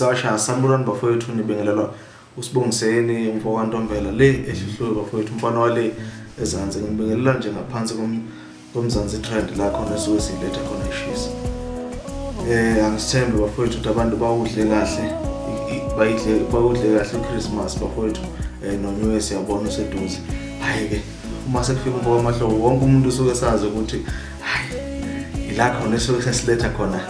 sasha sanibonani bafowethu nibingelelwa usibongiseni umfo kantombela le ehluhlwe bafowethu umfana wale ezansi ngibingelela nje ngaphansi komzansi trend la khona esuke siyiletha khona ishisa eh angisithembe bafowethu ukuthi abantu bawudle kahle bayidle bawudle kahle uChristmas bafowethu eh noNew Year siyabona seduze hayi ke uma sekufika umfo wamahlobo wonke umuntu usuke sazi ukuthi hayi ila khona esuke sesiletha khona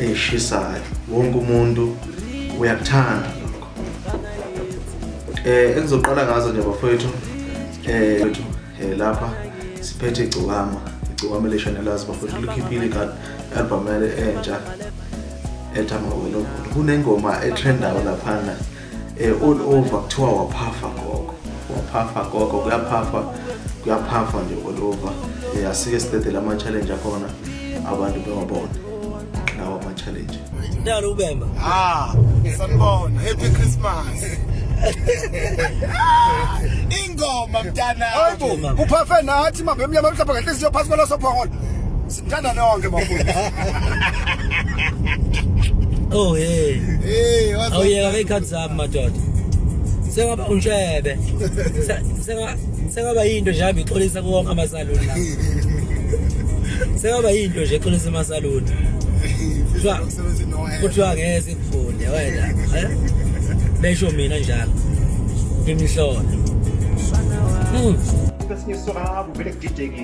eyishisayo wonke umuntu uyakuthanda lokho eh engizoqala ngazo nje bafowethu eh, eh lapha siphethe igcokama igcokama leshanelazi bafowethu likhiphile i-card album yale entsha ethi amawelobolo kunengoma etrendayo laphana eh all over kuthiwa waphafa gogo waphafa gogo kuyaphafa kuyaphafa nje all over eh asike sidedela ama challenge akhona abantu bewabona lawa ama challenge Ndalo ubemba ah sanibona happy christmas ingoma mntana hayibo uphafe nathi mabemnyama mhlapha ngenhliziyo phansi kwalasophongolo Ngithanda nonke bafundisi. Oh hey. Hey, wazi. Awuyeka ke ikhathi zami madoda. Sengaba untshebe. Se- Senga sengaba into nje hamba ixolisa kuwonke amasaluni la. Sengaba into nje ixolisa amasaluni. Kuthiwa Umsebenzi no hand. kuthiwa ngeke sikufunde wena. eh? Besho mina njalo. Ngimhlola. Hmm. Kwesinye isora kuvele kudideke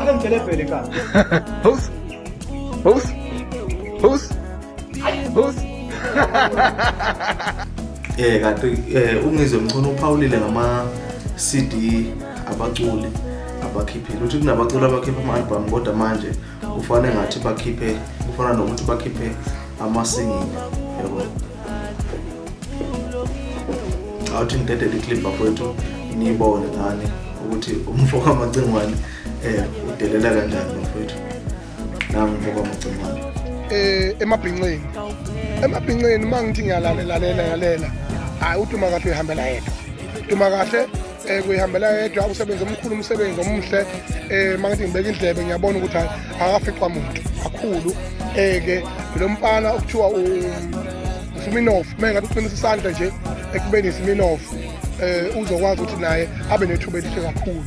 Ake ngitshele phela inkani. Boost. Boost. Boost. Boost. Eh kanti eh ungizwe mchunu uphawulile ngama CD abaculi abakhiphile. Uthi kunabaculi abakhipha ama-album kodwa manje kufanele ngathi bakhiphe kufana nokuthi bakhiphe ama-single yabo. awuthi ngidedele iclip bafowethu niyibone ngani ukuthi umfo kamacingwane eh udelela kanjani bafowethu nami umfo kamacingwane eh emabhinqeni emabhinqeni mangithi ngiyalalela lalela lalela hayi utuma kahle uyihambela yedwa utuma kahle um kuyihambela yedwa umsebenzi omkhulu umsebenzi omuhle um uma ngithi ngibeka indlebe ngiyabona ukuthi hayi akafiqwa muntu kakhulu um-ke lo mfana okuthiwa usuminof uma engathi uqinisa isandla nje ekubeni isiminof um uzokwazi ukuthi naye abe nethuba elihle kakhulu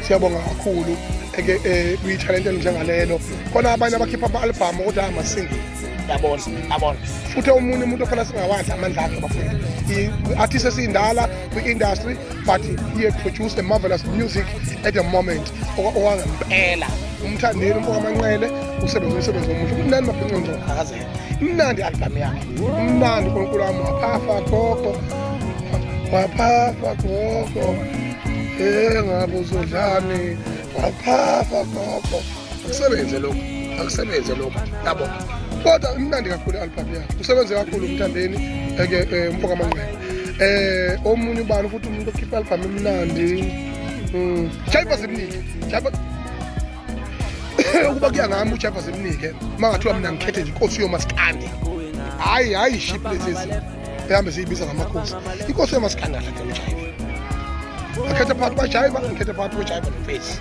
siyabonga kakhulu eke eh, kuyithalente elinjengalelo khona abanye abakhipha ama-albhamu ukuthi amasingile yabona yabona futhi omunye umuntu ofana singawadla amandla akhe bafundi i-artist esiyindala the industry but he had produced a marvelous music at the moment owangempela umthandeli umfoka manqele usebenza umsebenzi omuhle umnandi mabhinqo ngizokhakhazela imnandi i-albhamu yakhe umnandi unkulunkulu wami waphafa gogo waphafa gogo e ngabe uzodlani waphafa gogo kusebenze lokhu akusebenze lokhu yabo kodwa imnandi kakhulu i-album yakho kusebenze kakhulu umthandeni eke eh, umfoka manqele eh omunye ubani futhi umuntu okhipha album emnandi mm jaiba zimnike jaiba ukuba kuya ngami ujaiba zimnike mangathiwa mina ngikhethe nje inkosi yomaskandi hayi hayi ship lezi ehambe siyibiza ngamakhosi inkosi yamasikhandala ke ujayiva akhetha phakathi kwajayiva ngikhetha phakathi kwajayiva nofesi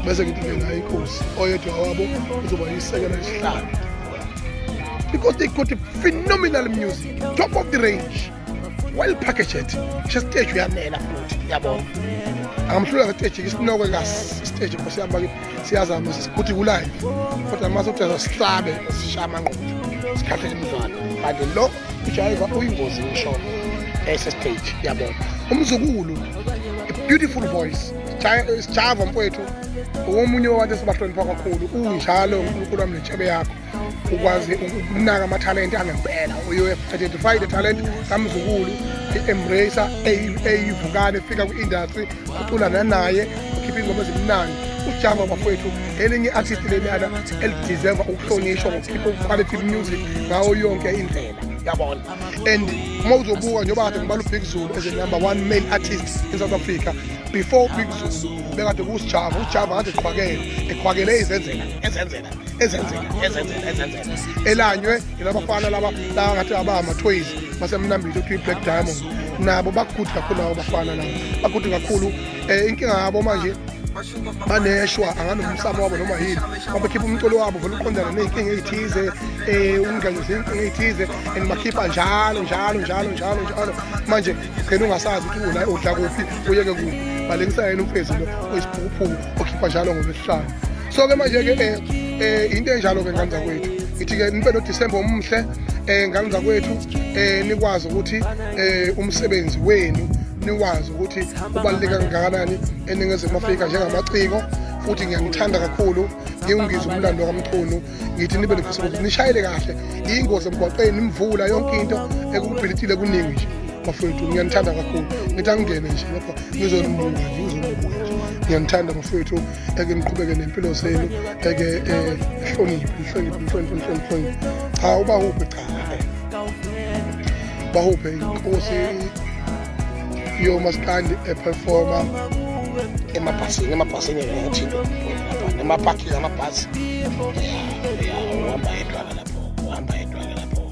bese ngithi ke ngayo inkosi oyedwa wabo uzoba yisekela isihlanu because they got a phenomenal music top of the range well packaged ngisho siteji uyanela futhi yabona angamhlula ngeteji isinoke kasi siteji nkosi yami siyazama sisikuthi kulive kodwa mase ukuthi azasihlabe sishaye amangqondo sikhathele imidlalo kanti lo ujayiva uyingozi ngishona esestage yabona umzukulu beautiful voice sijava mfowethu omunye wabantu esibahlonipha kakhulu unjalo unkulunkulu wami nentshebe yakho ukwazi ukunaka amathalente angempela uyoidentified the talent kamzukulu i-embrace eyivukane efika kwi-industry uculana naye ukhipha ingoma ezimnandi ujava bafowethu elinye i-artist leliyana elideserva ukuhlonishwa ngokukhipha uquality music ngawo yonke indlela yabona and uma uzobuka njengoba kade ngibala ubig zulu as a number one male artist in south africa before ubig zulu bekade kusijava ujava kade eqhwakele eqhwakele izenzela ezenzela ezenzela ezenzela ezenzela elanywe ilabafana laba laba ngathi abama toys basemnambile uthi black diamond nabo bakude kakhulu labo bafana labo bakude kakhulu eh inkinga yabo manje baneshwa anganomsamo wabo noma yini babakhipha umculo wabo vele uqondana ney'nkinga ey'thize um ukungenisa iy'nkinga ey'thize and bakhipha njalo njalo njalo njalo njalo manje gcina ungasazi ukuthi udla kuphi uyeke kuphi balengisa yena umfezi lo oyisiphukuphuku okhipha njalo ngolwesihlanu so-ke manje-ke um eh, eh, yinto enjalo-ke ngane zakwethu ngithi-ke nibe nodisemba omuhle um ngane zakwethu um nikwazi ukuthi um umsebenzi wenu niwazi ukuthi ubaluleke kangakanani eningizimu afrika njengamaciko futhi ngiyanithanda kakhulu ngiwungiza umlando kamchunu ngithi nibe nekhusukuthi nishayele kahle iyingozi emgwaqeni imvula yonke into ekubhilithile kuningi nje bafowethu ngiyanithanda kakhulu ngithi angingene nje lapha ngizonibuka nje ngizonibuka nje ngiyanithanda bafowethu eke niqhubeke nempilo zenu eke eh, hloniphe nihloniphe nihloniphe nihloniphe cha ubahuphe cha bahuphe inkosi yomasikandi eperforma emabhasini emabhasini ngathinto emapakini amabhasi uhamba yedwa lapho uhamba yedwa lapho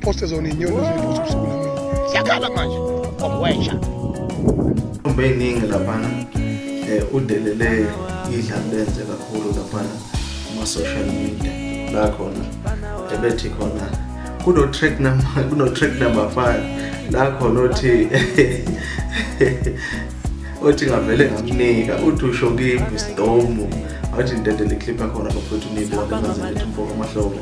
Poste zone inyoni zethu usuku namini. Siyakhala manje. Komwesha. Umbe iningi laphana. Eh udelele idlala lenze kakhulu laphana kuma social media. La khona ebethi khona kuno track number kuno track number 5 la khona othi othi ngavele ngamnika uthi usho kimi stomu athi ndedele clip yakhona bafethu nibona kanzima ukuthi mfoko amahlobo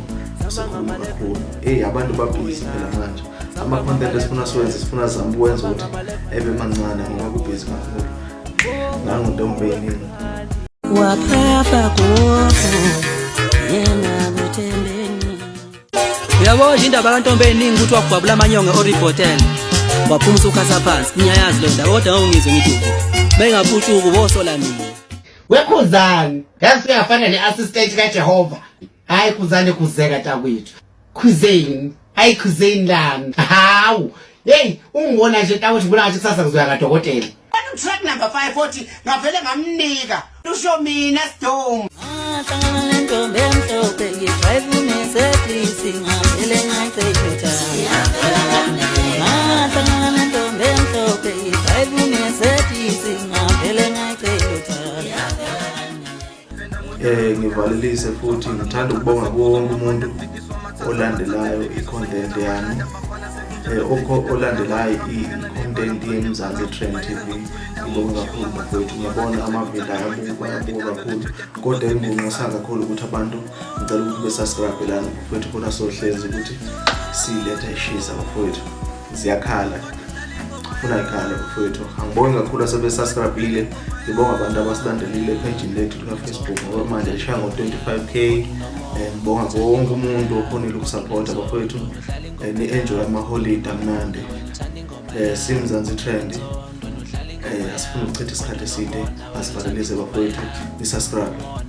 usekhuluma kakhulu eyi abantu babhizi phela manje ama-content esifuna siwenze sifuna zama ukwenza ukuthi ebe mancane ngoba kubhizi kakhulu nangontombeyiningi waphapha gofu yena kuthembeni uyabo nje indaba kantombe eningi ukuthi wagwabula amanyonge oribhotel waphuma usukhatha phansi ngiyayazi le ndaba kodwa ngawungizwe ngithi bengaputshuku bosola mina wekhuzani ngazi singafana ne-assistant kajehova hayi kuzane kuzeka takwethu khuzeni hayi khuzeni lami hawu yeyi ungibona nje takwethu ngibona ngathi kusasa kuzoya kadokotela track number 5 futhi ngavele ngamnika lusho mina sdom ngahlangana nentombi emhlophe ngidrive unesebisi ngavele ngacekutha ngahlangana nentombi emhlophe ngidrive unesebisi ngavele ngacekutha eh ngivalelise futhi ngithanda ukubonga konke umuntu olandelayo i-content yami eh okho olandelayo i-content yeMzansi Trend TV ngibonga kakhulu mfowethu ngiyabona amavila ayabuka ayabuka kakhulu kodwa engibonisa kakhulu ukuthi abantu ngicela ukuthi besubscribe lana mfowethu khona sohlezi ukuthi siletha ishisa mfowethu ziyakhala funa ikhale mfowethu angibongi kakhulu asebesaskrabhile ngibonga abantu abasilandelile ephejini lethu likafacebook ngoba manje lishaya ngo-25 k eh, ngibonga kuwo wonke umuntu okhonile ukusaphotha bafowethu eh, ni-enjoy amaholide amnandi um simzansi trend um asifuni ukuchitha isikhathi eside asivalelise bafowethu nisaskrabe